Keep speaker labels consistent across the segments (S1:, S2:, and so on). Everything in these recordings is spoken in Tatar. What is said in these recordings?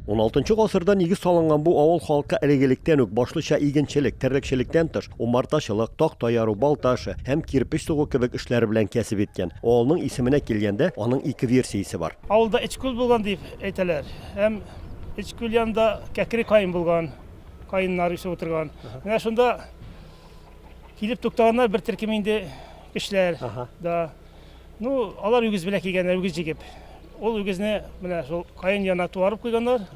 S1: 16 гасырда нигез салынган бу авыл халкы элек-электән үк башлыча игенчелек, терлекчелектән тыш, умартачылык, такта яру, балта эше һәм кирпеч сугу кебек эшләр белән кәсеп иткән. Авылның исеменә килгәндә, аның ике версиясе бар. Авылда Эчкүл булган
S2: дип әйтәләр. Һәм Эчкүл янында Кәкре каен булган, каеннар үсеп утырган. Менә шунда килеп туктаганнар бер төркем инде кешеләр да. Ну, алар үгез белән килгәннәр, үгез җигеп. Ул үгезне менә шул каен янына туарып куйганнар.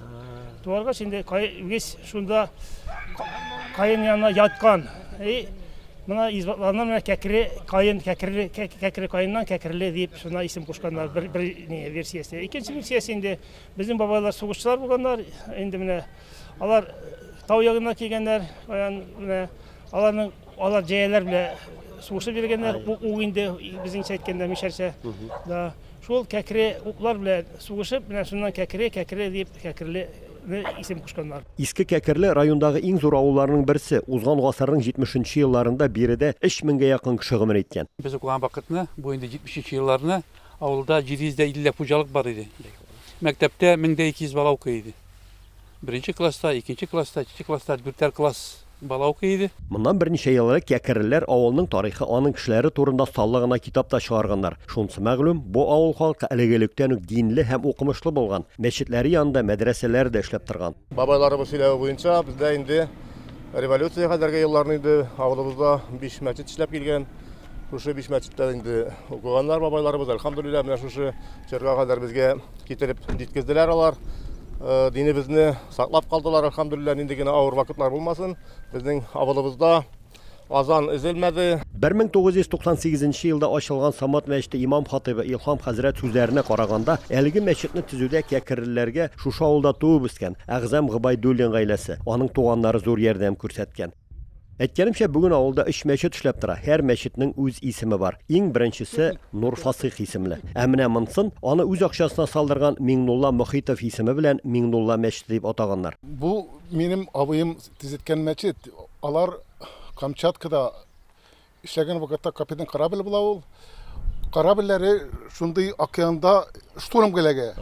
S2: Туаргач инде үгез шунда каен янына яткан. И мына избатларына менә кәкре каен, кәкре кәкре каеннан кәкреле дип шуна исем кушканнар бер бер не версиясе. Икенче версиясе инде безнең бабайлар сугышчылар булганнар. Инде менә алар тау ягына килгәннәр. Менә аларның Алар җәяләр белә сугышып йөргәннәр, ук инде безнеңчә әйткәндә мишәрчә. Да. Шул кәкре уклар белә сугышып, менә шуннан кәкре, кәкре дип кәкреле исем кушканнар. Иске Кәкерле
S1: райондагы иң зур авылларның берсе, узган гасырның 70 нче елларында биредә 3 меңгә якын кеше гомер иткән. Без укыган вакытны,
S3: бу инде 70 нче елларны, авылда 750 дә хуҗалык бар иде. Мәктәптә 1200 бала укый иде. Беренче класста, икенче класста, өченче класста, дүртәр класс. Бала укый иде. Моннан берничә ел элек
S1: Кәкереләр авылының тарихы, аның кешеләре турында саллы гына китап та чыгарганнар. Шунысы мәгълүм, бу авыл халкы әлеге электән үк динле һәм укымышлы булган, мәчетләре янында мәдрәсәләре дә эшләп торган. Бабайларыбыз сөйләве
S4: буенча, бездә инде революция кадәрге елларны инде авылыбызда биш мәчет эшләп килгән. Шушы биш мәчеттә инде укыганнар бабайларыбыз, әлхәмдүлилләһ, менә шушы чорга кадәр безгә китереп җиткезделәр алар динебезне. Саклап калдылар, әлхәмдүлилләһ, нинди генә авыр вакытлар булмасын, безнең авылыбызда азан өзелмәде. 1998
S1: нче елда ачылган Самат мәчете имам-хатыйбы Илһам хәзрәт сүзләренә караганда, әлеге мәчетне төзүдә кәкеррләргә шушы авылда туып-үскән Әгъзам Гобәйдуллин гаиләсе, аның туганнары зур ярдәм күрсәткән. Әйткәнемчә, бүген авылда өч мәчет эшләп тора, һәр мәчетнең үз исеме бар. Иң беренчесе Нурфасыйх исемле. Ә менә монсын, аны үз акчасына салдырган Миңнулла Мохитов исеме белән Миңнулла мәчете дип атаганнар. Бу минем
S5: абыем төзеткән мәчет. Алар Камчаткада Эшләгән вакытта капитан корабль була ул. Корабльләре шундый океанда штурм киләгә.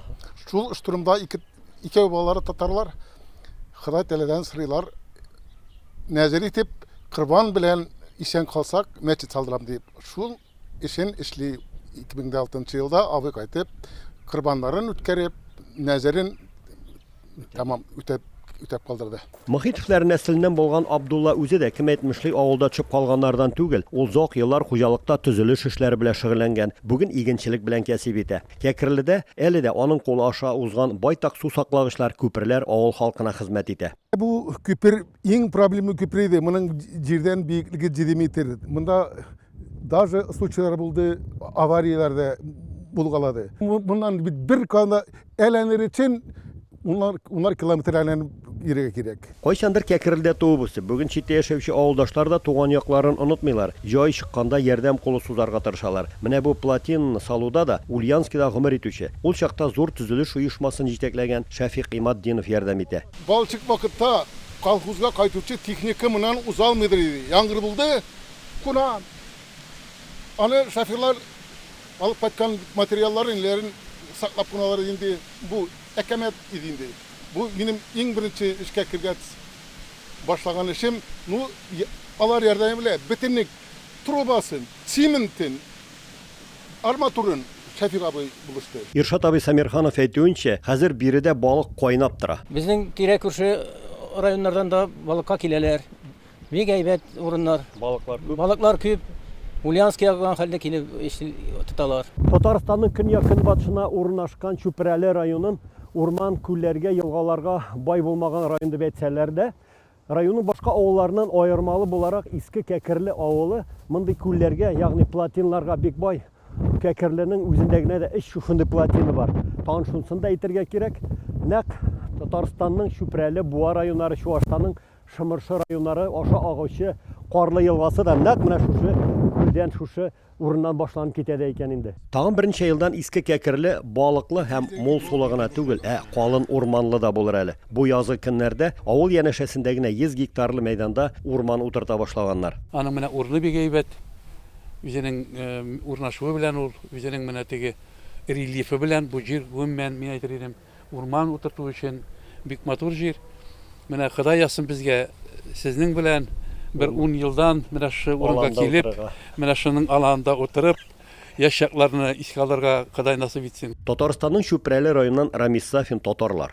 S5: Шул штурмда ике икәү балалары татарлар Ходай Тәгаләдән сорыйлар. Нәзер итеп корбан белән исән калсак, мәчет салдырам дип. Шул эшен эшли 2006 елда абый кайтып, корбаннарын үткәреп, нәзерен тәмам үтәп үтәп калдырды. Мөхитовлар
S1: нәселеннән булган Абдулла үзе дә, кем әйтмешли, авылда төшеп калганнардан түгел. Ул зак еллар хуҗалыкта төзелеш эшләре белән шөгыльләнгән, бүген игенчелек белән кәсип итә. Кәкреледә әле дә аның кулы аша узган байтак сусаклагычлар, күперләр авыл халкына хезмәт итә. Бу күпер
S5: иң проблемлы күпер иде. Моның җирдән биеклеге җиде метр. Монда даже случайлар булды, аварияләр дә булгалады. Моннан бит бер гана Әйләнер өчен унар, унар километр әйләнеп йөрергә кирәк. Кайчандыр Кәкрелдә
S1: туып-үсеп, бүген читтә яшәүче авылдашлар да туган якларын онытмыйлар, җай чыкканда ярдәм кулы сузарга тырышалар. Менә бу плотинаны салуда да Ульянскида гомер итүче, ул чакта зур төзелеш оешмасын җитәкләгән Шәфикъ Иматдинов ярдәм итә. Балчык вакытта
S5: колхозга кайтучы техника моннан узалмыйдыр иде, яңгыр булды, куна. Аны шоферлар Алып кайткан материалларын-ниләрен саклап кына алар иде инде. Бу әкәмәт иде инде. Бу минем иң беренче эшкә кергәц башлаган эшем. Ну, алар ярдәме белән бөтенек трубасын, циментын, арматурын Шәфигъ абый булышты. Иршат абый Сәмирханов
S1: әйтүенчә, хәзер биредә балык кайнап тора. Безнең тирә-күрше
S6: районнардан да балыкка киләләр. Бик әйбәт урыннар. Балыклар күп. Балыклар күп. Ульяновский ягыннан хәлдә килеп тоталар. Татарстанның
S1: көньяк-көнбатышына урнашкан Чүпрәле районын урман, күлләргә, елгаларга бай булмаган район дип әйтсәләр дә, районның башка авылларыннан аермалы буларак Иске Кәкерле авылы мондый күлләргә, ягъни плотинларга бик бай. Кәкерленең үзендә генә дә өч шушындый плотины бар. Тагын шунысын да әйтергә кирәк, нәкъ Татарстанның Чүпрәле, Буа районнары Чуашстанның Шымыршы районнары аша агучы Карлы елгасы да нәкъ менә шушы күлдән, шушы урыннан башланып китә дә икән инде. Тагын берничә елдан Иске Кәкерле балыклы һәм мул сулы гына түгел, ә калын урманлы да булыр әле. Бу язгы көннәрдә авыл янәшәсендә генә 100 гектарлы мәйданда урман утырта башлаганнар. Аның менә урыны бик
S3: әйбәт. Үзенең урнашуы белән ул, үзенең менә теге рельефы белән бу җир, гомумән, мин әйтер идем, Урман утырту өчен бик матур җир. Менә Ходай язсын безгә сезнең белән бер ун елдан менә шушы урынга килеп, менә
S1: шуның аланында
S3: утырып, яшь чакларны
S1: искә
S3: алырга
S1: Ходай
S3: насыйп итсен. Татарстанның
S1: Чүпрәле
S3: районыннан Рамис Сафин
S1: татарлар.